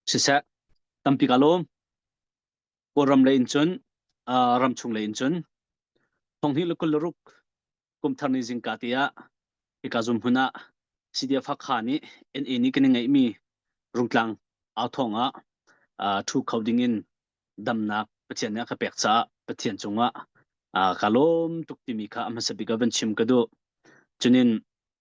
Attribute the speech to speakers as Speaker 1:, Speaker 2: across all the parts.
Speaker 1: siseh tampi ka lawm kawlram lei in cun ram chung lei in cun thonghni le kul le ruk kumthar ni zingka te ah hika zum hmun ah CDF Hakha nih NA nih kan i ngeihmi rungtlang au thong ah thu kho ding in damnak Pathian nih a ka pek caah Pathian cungah ka lawm tuk timi kha a hmasa bik ah van chim ka duh cunin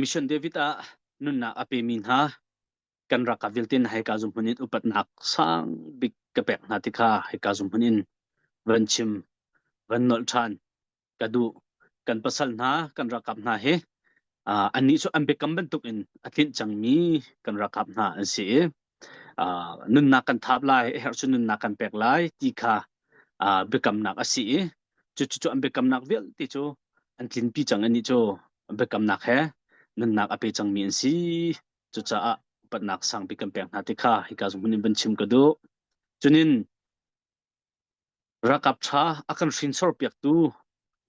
Speaker 1: Mission David ah nunnak a pemi hna kan rak ka vialte hna hi ka zumhmun in upatnak sang bik ka pek hna ti kha hi ka zumhmun in van chim van nolh ṭhan ka duh kan pasal hna kan rakap hna hi annih cu an biakam bantuk in a tlinh cangmi kan rakap hna an si i nunnak kan thap lai herh cu nunnak kan pek lai ti kha biakamnak a si i cucu an biakamnak vialte cu an tlinpi cang anih cu biakamnak he nunnak a pe cangmi an si cucaah upatnak sangpi kan pek hna ti kha hika zungphun in van chim ka duh cunin rakap ṭha a kan hrinsor piaktu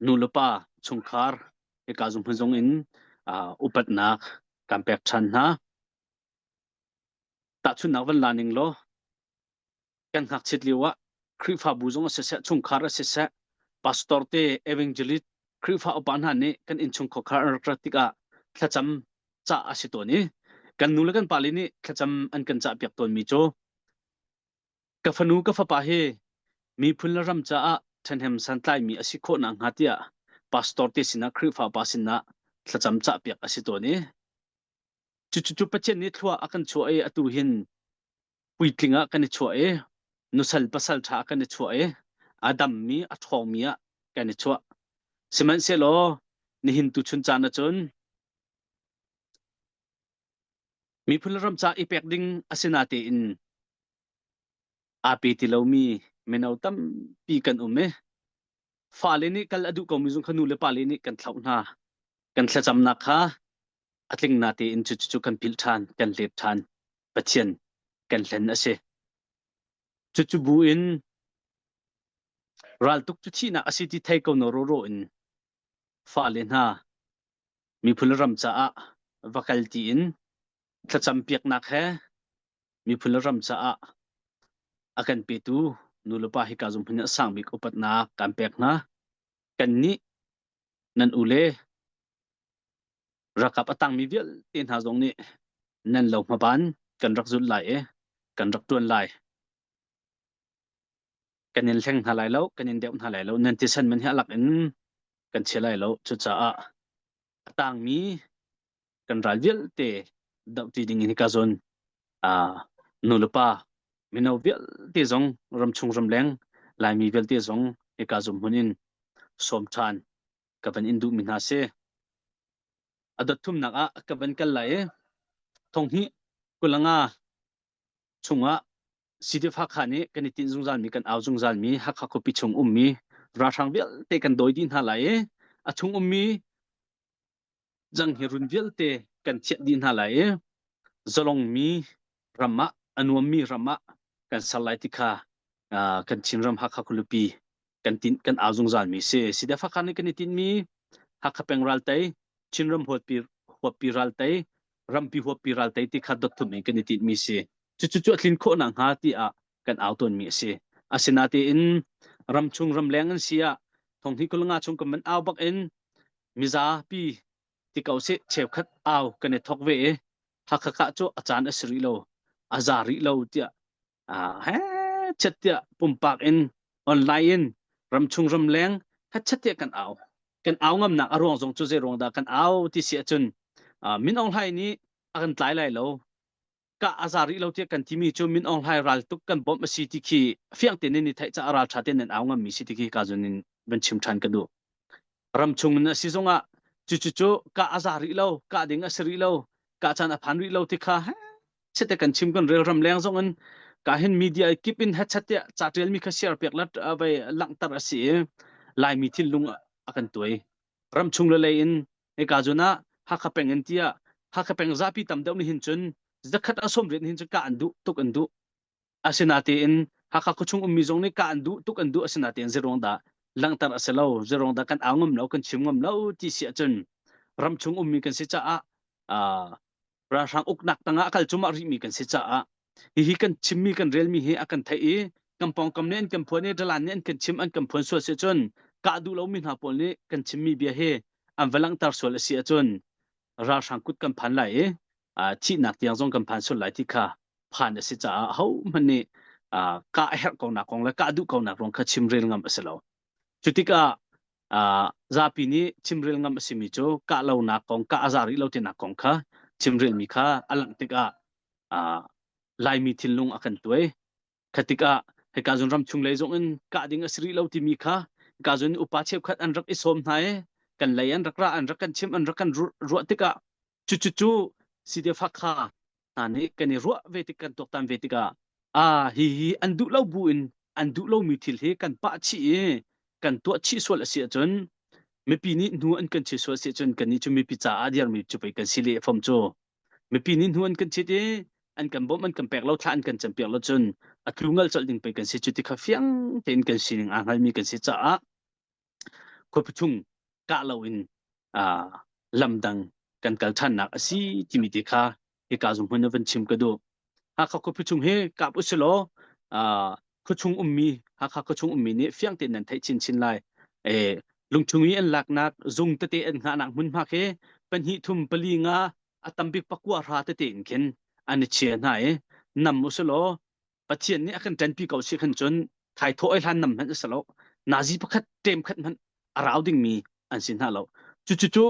Speaker 1: nu le pa chungkhar hika zungphun zong in upatnak kan pek ṭhan hna Tahchunhnak van la ning law, kan ngakchiat lio ah Khrihfabu zong ah siseh, chungkhar ah siseh, pastor te, evangelist, Khrihfa upa hna nih kan innchung khuakhar an rak rat tikah thlacam cah a si tawn i kan nu le kan pale nih thlacam an kan cah piak tawnmi cu ka fanu ka fapa hi miphun le ram caah ṭhahnem santlaimi a si khawh nakhnga tiah pastor te sinah Khrihfa pa sinah thlacam cah piak a si tawn i Cucu Pathian nih thlua a kan chuah i atu hin puitling ah kan i chuah i nusal pasal ṭha ah kan i chuah i a dammi a ṭhawngmi ah kan i chuah. Sihmanhsehlaw nihin tuchun caan ahcun miphun le ram ca i pek ding a si na tein aa pe ti lomi mino tampi kan um i fale nih kal a duh komi zung kha nu le pale nih kan thlauh hna. Kan thlacamnak kha a tling na tein cucu kan philh ṭhan kan let ṭhan Pathian kan hlen a si cucu bu in raltuk cu thihnak a si ti thei ko no ro ro in fa le hna miphun ram caah va kal ti in thlacam piaknak he miphun ram caah a kan petu nu le pa hi ka zum hun a sang bik upatnak kan pek hna kannih nan ule rakap a tangmi vialte hna zong nih nan lo hmaban kan rak zulh lai i kan rak ṭuan lai. Kan in hleng hna lai lo, kan in deuh hna lai lo, nan ti san man hi alak in kan chia lai lo. Cucaah a tangmi kan ral vialte dohṭi ding in hika zon nu le pa mino vialte zong ram chung ram leng laimi vialte zong hika zumhmun in sawm ṭhan ka van in duhmi hna si a dot thumnak ah ka van kal lai i thonghni kulanga chungah sidif hakha nih kan i tin zungzalmi kan au zungzalmi hakha khuapi chung ummi ralhrang vialte kan dawi dih hna lai i a chung ummi Zang hi run vialte kan chiah dih hna lai i zalong mi ram ah a nuam mi ram ah kan ser lai ti kha kan Chinram Hakha Kulupi kan tin kan au zungzal mi si sida fakhan kan i tin mi Hakha peng ral tei Chinram huappi huappi ral tei rampi huappi ral tei ti kha dot thum in kan i tin mi si cucu cu a tlin khawh na hnga ti ah kan au tuanmi a si asinatein ramchung ramleng an si ah thong hi kulnga chung kan man au bak in mizapi ti ko si cheukhat au kan i thok ve i hakha ka cu a caan a si rih lo a za rih lo tiah he chet tiah pumpak in online in ramchung ramleng hatchat tiah kan au kan au ngamnak a ruang zong cu zei ruang dah kan au ti si ahcun min ong hlai nih a kan tlai lai lo kah a za rih lo tiah kan timi cu Min Aung Hlaing ral tuk kan bawmh a si ti khi fiang tein ni theih caah raltha tein nan au ngammi si ti khi ka zun in van chim than ka duh ram chung in a si zong ah cucu cu kah a za rih lo kah ding a si rih lo kah chan a phan rih lo ti kha chete kan chim kan rel ram leng zong in ka hin media kip in headset tia cha tial mi kha share pek lat vai langhter a si i laimi thin lung a kan tuai Ramchung le lei in hika zun ah Hakha peng in tiah Hakha peng zapi tam deuh nih hin cun zakhat a sawm rit nih hin cun kah an duh tuk an duh asinatein Hakha khuachung ummi zong nih kah an duh tuk an duh asinatein zeiruang dah langhter a si lo zeiruang dah kan au ngam lo kan chim ngam lo ti si ahcun ramchung ummi kan si caah ralhrang uknak tangah a kal cumah rihmi kan si caah hihi kan chimmi kan relmi hi a kan theih i kan pawngkam nih an kan phuan i dalan nih an kan chim an kan phuan sual si cun kah duh lomi hna pawl nih kan chimmi bia hi an va langhter sual a si ahcun ralhrang kut kan phan lai i thihnak tiang zong kan phan sual lai ti kha phan a si caah hohmanh nih kah a herh ko nak kong le kah duh ko nak rong kha chim rel ngam a si lo Cu tikah zapi nih chimrel ngam a simi cu kah lonak kong, kah a za rih lo tinak kong kha chimrelmi kha a langh tikah Laimi thinlung a kan tuai. Kha tikah hika zun ram chung lei zong in kah ding a si rih lo timi kha hika zun upa cheukhat an rak i sawm hna i kan lei an rak ra, an rak kan chimh, an rak kan ruah tikah Cucu CDF Hakha hna nih kan i ruah ve tik kan tuaktan ve tikah ah hihi an duh lo bu in an duh lomi thil hi kan pah chih i kan tuah chih sual a si ahcun mipi nih hnu an kan chit sual a si ahcun kannih cu mipi caah a dirmi cu pei kan si le fam cu mipi nih hnu an kan chit i an kan bawmh an kan pek lo thla an kan campiak lo cun a tlu ngal colh ding pei kan si cu ti kha fiang tein kan sining aa hngalmi kan si caah khuapathung kah loin lamdang kan kal ṭhannak a si timi te kha hika zung hmun van chim ka duh hakha khuapathung hi kap usilaw khuachung ummi hakha khuachung ummi nih fiang tein nan theih chinchin lai e lungchung i an laknak zung tete an ngahnak hmunhma khi pahnih thum pali nga a tambik pakua ra tete in khin an i chia hna i nam usulaw Pathian nih a kan ṭanpi ko si khan cun thai thawh ai hlan nam hmanh a si lo. Nazi pakhat ṭem khat hmanh a rau dingmi an si hna lo. Cucu cu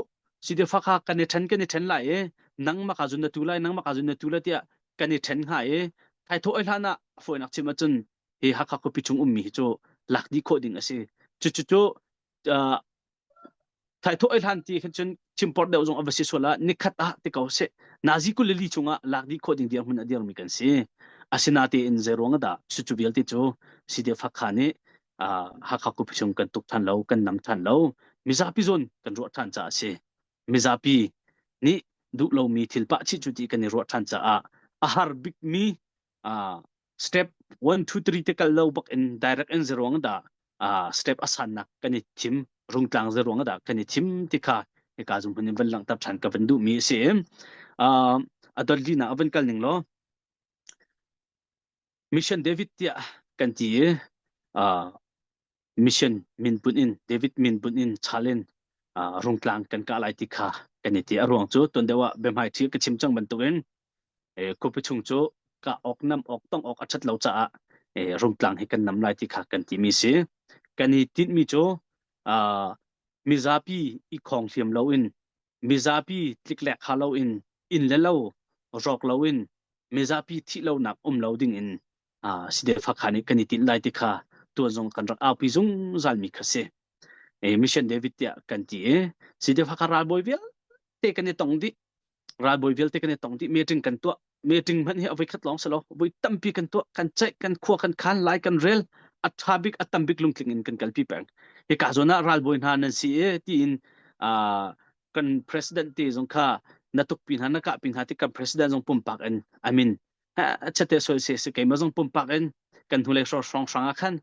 Speaker 1: sidefa kha kan i ṭhen kan i ṭhen lai i nangmah ka zun na tu lai nangmah ka zun na tu lai tiah kan i ṭhen hnga i thai thawh ai hlan ah a fawinak chim ahcun hi Hakha khuapi chung ummi hi cu lak dih khawh ding a si. Cucu cu Thaithawh ei hlan ti khan cun chimpor deuh zong a va si sual ah nikhat ah ti ko seh nazi kul le li chungah lak dih khawh ding dirhmun a dirmi kan si. Asinatein zei ruang ah dah cucu vialte cu CDF Hakha nih Hakha Kupi chung kan tuk than lo, kan nam than lo. Mizapi zon kan ruah than caah a si. Mizapi nih duh lomi thil pah chih cu ti kan i ruah than caah a har bikmi uh, step 1 2 3 te kal lo bak in direct in zeruang da uh, step asan nak kan i thim rungtlang zeruang da kan i thim ti kha e ka zum hun van lang tap than ka van du mi si uh, adolli na avan kal ning lo mission david tia kan ti uh, mission min pun in David min pun in chalen rungtlang kan ka lai ti kha kan i ti a ruang cu ton deuh ah bemhai thi ka chim chang bantuk in kupi chung cu ka ok nam ok tong ok a ṭhat lo caah rungtlang hi kan nam lai ti kha kan ti mi si kan i tin mi cu mizapi i khong hliam lo in mizapi tliklek ha lo in in le lo rawk lo in mizapi thih lo nak um lo ding in uh, si de fa kha ni kan i tin lai ti kha tuan zong kan rak aupi zungzal mi kha si e mission david tia kan ti e si de fa kha ral boi vial te kan i tong di ral boi vial te kan i tong di me tring kan tua me tring man hi avoi khat long salo voi tampi kan tua kan check kan khua kan khan lai kan rel atha bik atam bik lungtling in kan kalpi peng hi ka zona ral boi hna nan si e ti in uh, kan president te zong kha natuk pi hna naka pi hna ti kan president zong pumpak in i mean chate so se se keima zong pumpak in kan hnulei sor song sang a khan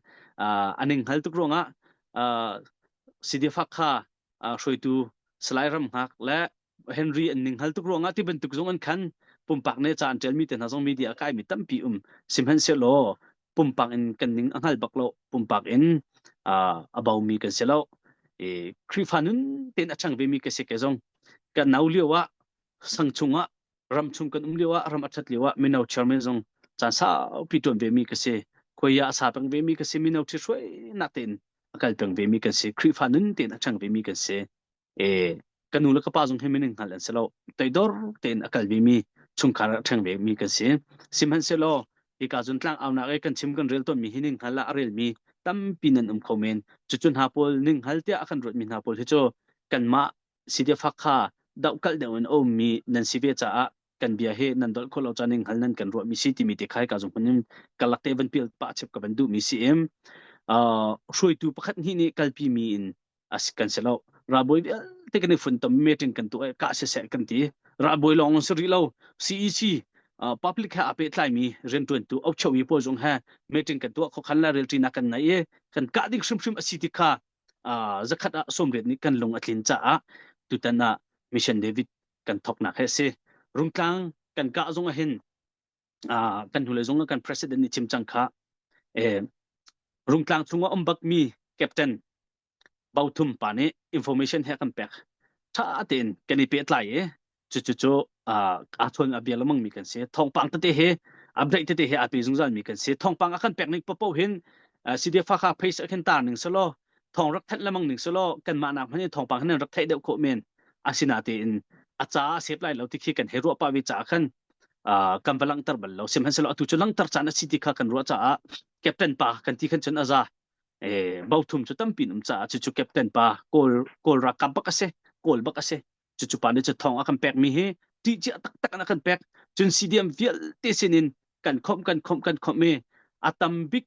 Speaker 1: aning hal tuk ruangah sidi fak kha hruitu salai ram ngak le henry an ning hal tuk ruangah ti bantuk zong an khan pumpak ne cha an ṭel mi te hna zong media kai mi tampi um simhan se lo pumpak in kan ning a ngal bak lo pumpak in abau mi kan se lo e khrifa nun ten a chang ve mi ka se ke zong ka nau lio ah sang chung ah ram chung kan um lio ah ram a ṭhat lio ah mino chairman zong caan saupi ṭuan ve mi ka si khoia a sa peng ve mi ka si mino ṭhi hruai nak tein a kal peng ve mi kan si Khrihfa nun tein a chang ve mi kan si e kan nu le ka pa zong hi minin hngal an si lo teidor tein a kal ve mi chungkhar a ṭheng ve mi kan si sihmanhsehlaw hika zun tlang aunak e kan chim kan rel ton mi hi ning hngal a rel mi tampi nan um kho men cucun ha pawl ning hal tia a kan ruat mi hna pawl hi cu kanmah site fak kha dohkalh deuh in a ummi nan si ve caah kan bia hi nan dolh khawh lo caan in hal nan kan ruah mi si timi te khai ka zung hman kalak te van pil pa chep ka van du mi si im uh hruaitu pakhat ni ni kalpi mi in as kan se lo raboy te kan fun tom meeting kan tu ka se se kan ti raboy long se ri lo CEC public ha ape tlai mi ren tuan tu au chau mi po zung ha meeting kan tu kho khan la relti na kan nai e kan ka ding shim shim asi ti kha zakhat ah sawmriat nih kan lung a tlin caah tutan ah mission david kan thoknak he si rungtlang kan kah zong ahin kan hnulei zong kan president nih chim cang kha rungtlang chungah um bakmi captain bauthum pa nih information he kan pek tha tein kan i pehtlai i cucu a chuan a bia lemang mi kan si thongpang tete hi a break tete hi a pe zungzal mi kan si thongpang a kan pek ning popo hin cd fa kha phase a khin tar ning selo thong rak thet lemang ning selo kan ma nak man thongpang hin rak thei deuh ko men asina te in a cha sep lai lo ti khi kan he ro pa vi cha khan kan va langtar bal lo sim han selo atu chu langtar chan a city kha kan ro cha a captain pa kan ti khan chun aza e bo thum chu tampin um cha chu chu captain pa kol kol ra kam pak ase kol bak ase cucu pa nih cu thong a kan pekmi hi ṭihcia taktak in a kan pek cun sidiam vialte sinin kan khawmh kan khawmh kan khawmh i a tam bik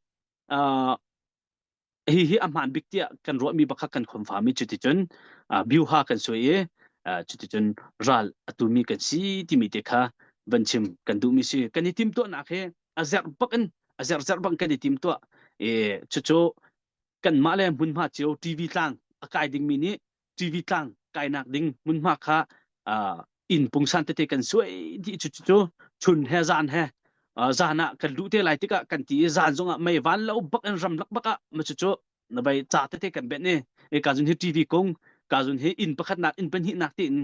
Speaker 1: hihi a hmaan bik tiah kan ruahmi bakak kan khomfam i cuticun biuha kan suai i cuticun ral a tumi kan si timi te kha van chim kan duhmi si kan i tim tuahnak hi a zerh bak in a zerh zerh bang kan i tim tuah i cucu kanmah le hmunhma cio TV tlang a kai dingmi nih TV tlang kainak ding hmunhma kha inn pungsan tete kan suai ti cu cu chun he zan he zan ah kan luh te lai tikah kan ti i zan zongah mei van lo bak in ram lak bak ah ma cu cu na bai ca tete kan bet ni e ka zun hi TV kung ka zun hi inn pakhat nak inn pahnih nak tin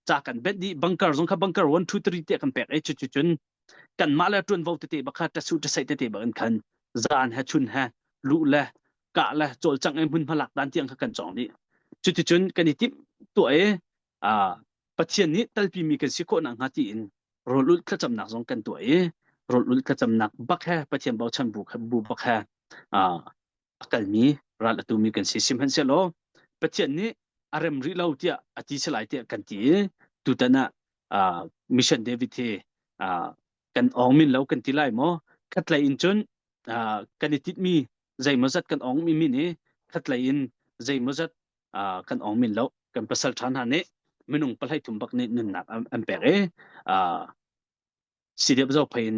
Speaker 1: cha kan bet di bunker zong kha bunker 1 2 3 te kan pek e chu chu chun kan ma le tuan vo tete bakha tasu tasai tete ba kan khan zan he chun he lu le kah le cawlcangh i hmunhma lak dan tiang kha kan cawng dih cuticun kan i timh tuah i pathian nih talpimi kan si khawhnak hnga tiin rawlulh thlacamnak zong kan tuah i rawlulh thlacamnak bak he pathian bochan bu, bu bak he a kalmi ral atumi kan si sihmanhsehlaw pathian nih a rem rih lo tiah a ti salai tiah kan ti i tutan ah mission david hi kan ong min lo kan ti lai maw khatlei in cun kan i tit mi zeimaw zat kan ong mi min i khatlei in zeimaw zat kan ong min lo kan pasal than ha nih minung palai thum bak nih nunnak an pek e sidiap zo phain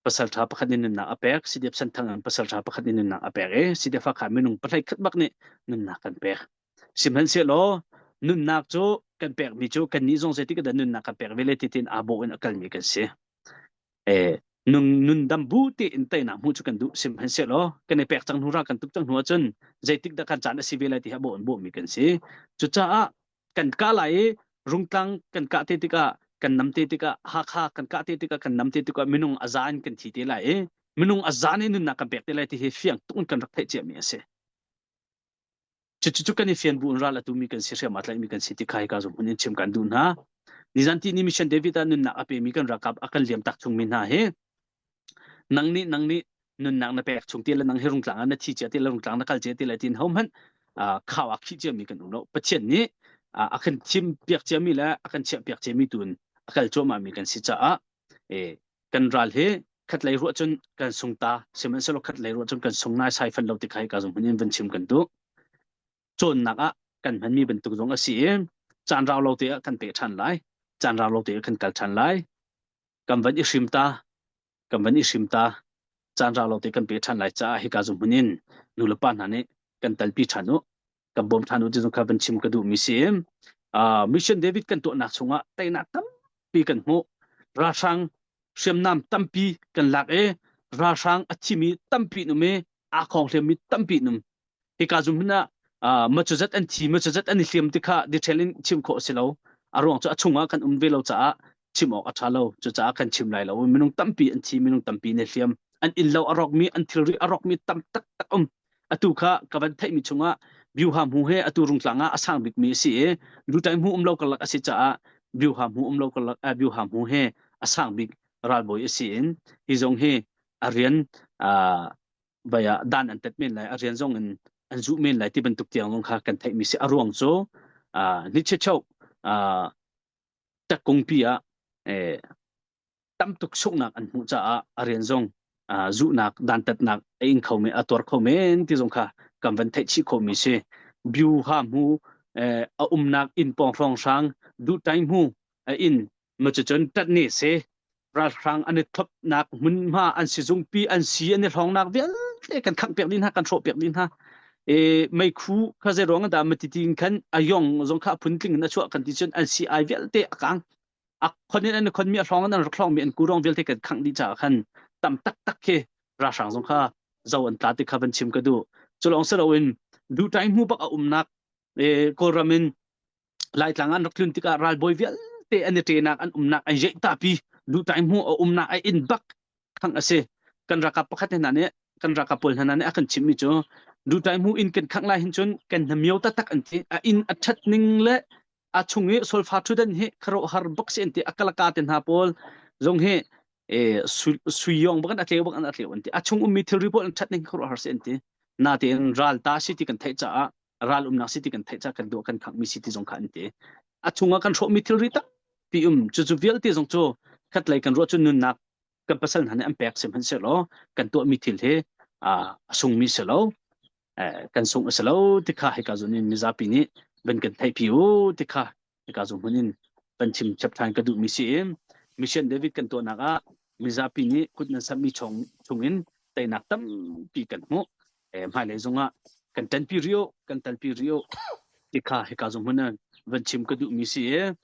Speaker 1: pasal tha pakhat in nunnak a pek sidiap santhang an pasal tha pakhat in nunnak a pek e sidiap fa kha minung palai khat bak nih nunnak kan pek Sihmanhsehlaw nunnak cu kan pekmi cu kannih zong zeitik dah nunnak kan pek ve le titin aa bawh in a kalmi kan si. E, nun, nun dam bu tiin teinak hmuh cu kan duh. Sihmanhsehlaw kan i pek cang hnu ra kan tuk cang hnu ahcun zeitik dah kan caan a si ve lai ti ha bawh in bawhmi kan si. Cucaah kan kah lai i rungtlang kan kah te tikah kan nam te tikah hakha kan kah te tikah kan nam te tikah minung a zan kan thi te lai i minung a zan i nunnak kan pek te lai ti hi fiang tuk in kan rak theih ciami a si. cucu kan i fian bu in ral atu mi kan si hriam a tlaih mi kan si ti khai ka zum hun in chim kan duh hna nizan ti ni mission david ah nunnak a pe mi kan rakap a kan liam tak chung mi hna hi nang nih nang nih nunnak na pek chung ti le nang hi rungtlang ah na thi chia ti le rungtlang na kal chia ti le tin hom hman khao a khi chia mi kan um lo pathian nih a kan thim piak chia mi le a kan chia piak chia mi tun a kal chua ma mi kan si caah e kan ral hi khat lei ruah cun kan sung ta sihmanhsehlaw khat lei ruah cun kan sung nai sai fan lo ti kai ka zong hin vun chim kan du cawnnak ah kan hmanmi bantuk zong a si i caan rau lo te ah kan pe ṭhan lai caan rau lo te ah kan kal ṭhan lai kan van i hrim ta kan van i hrim ta caan rau lo te kan pe ṭhan lai caah hika zong hun in nu le pa hna nih kan talpi ṭhan u kan bawm ṭhan u tizong kha van chim ka duhmi si. Uh, Mission David kan tuahnak chungah teinak tampi kan hmuh. Ralhrang hriamnam tampi kan lak i ralhrang a thimi tampi num i a khong hliammi tampi num. Hika zumhin ah uh, machuzat an thi machuzat an i hliam ti kha detail in chim khawh si lo. A ruang cu a chungah kan um ve lo caah chim awk a ṭha lo. Cucaah kan chim lai lo. Minung tampi an thi, minung tampi ne hliam. An in lo a rawkmi, an thilri a rawkmi tam taktak um. atu kha ka van theihmi chungah biuhahmu he atu rungtlang ah a sang bikmi a si i lutai hmu umlo karlak a si caah biuhahmu umlo karlak biuhahmu he a sang bik ralbawi a si in hi zong hi a rian vai ah dan an tat men lai a rian zong in an zuh men lai ti bantuk tiang zong kha kan theihmi si a ruang cu niche cheu takkungpi ah tam tuk sunghnak an hmuh caah a rian zong zuhnak dantatnak a ing kho men a tuar kho men ti zong kha kan van theih chih khomi si view ha hmu a umnak inn pawng hrawng hrang duh tai hmu inn ma cu cun tat ne se ralhrang an i thopnak hmunhma an si zungpi an si an i hlongnak vialte kan khang piak din ha kan hrawh piak din ha e mei khu kha zei ruang da ma ti tin khan a yong zong kha phun tling na chuah kan ti cun an si ai vialte a kang a khon in an khon mi a hrawng an rak hrawng mi an kurong vialte kan khangh dih caah khan tam taktak khi ralhrang zong kha zo an tla ti kha van chim ka duh cu lawng si loin duhtai hmu bak a umnak kawlram in laitlang an rak tlun tikah ralbawi vialte an i ṭenak an umnak ai jeih ta pi duhtai hmu a umnak ai in bak khangh a si kan ralkap pakhat hna nih kan ralkap pawl hna nih a kan chimhmi cu dutai mu in kan khangh lai hin cun kan hnamio taktak an ti a in a that ning le a chung i solfa thudan hi kharo har bok se an ti akalaka te hna pawl zong hi e suiyong bakan atleu bakan atleu an ti a chung ummi thilri pawl an that ning kharo har se an ti na te ral ta si ti kan theih caah ral umnak city kan theih ca kan duh kan khangmi city zong kha an ti a chungah kan hrawhmi thilri tampi um cucu vialte zong cu khatlei kan ruah cu nunnak kan pasal hna nih an pek sim han se law kan tuahmi thil hi a sungmi se lo kan sung a si lo tikha hika zun in mizapi nih van kan theih pi u tikha ka zu hmun in kan chim chap than ka duh mi si in mission david kan tuahnak ah mizapi nih kut nan sammi chung chungin teinak tampi kan hmuh hmai lei zongah kan tanpi rio kan talpi rio ti kha hika zu hmun van chim ka duh mi si e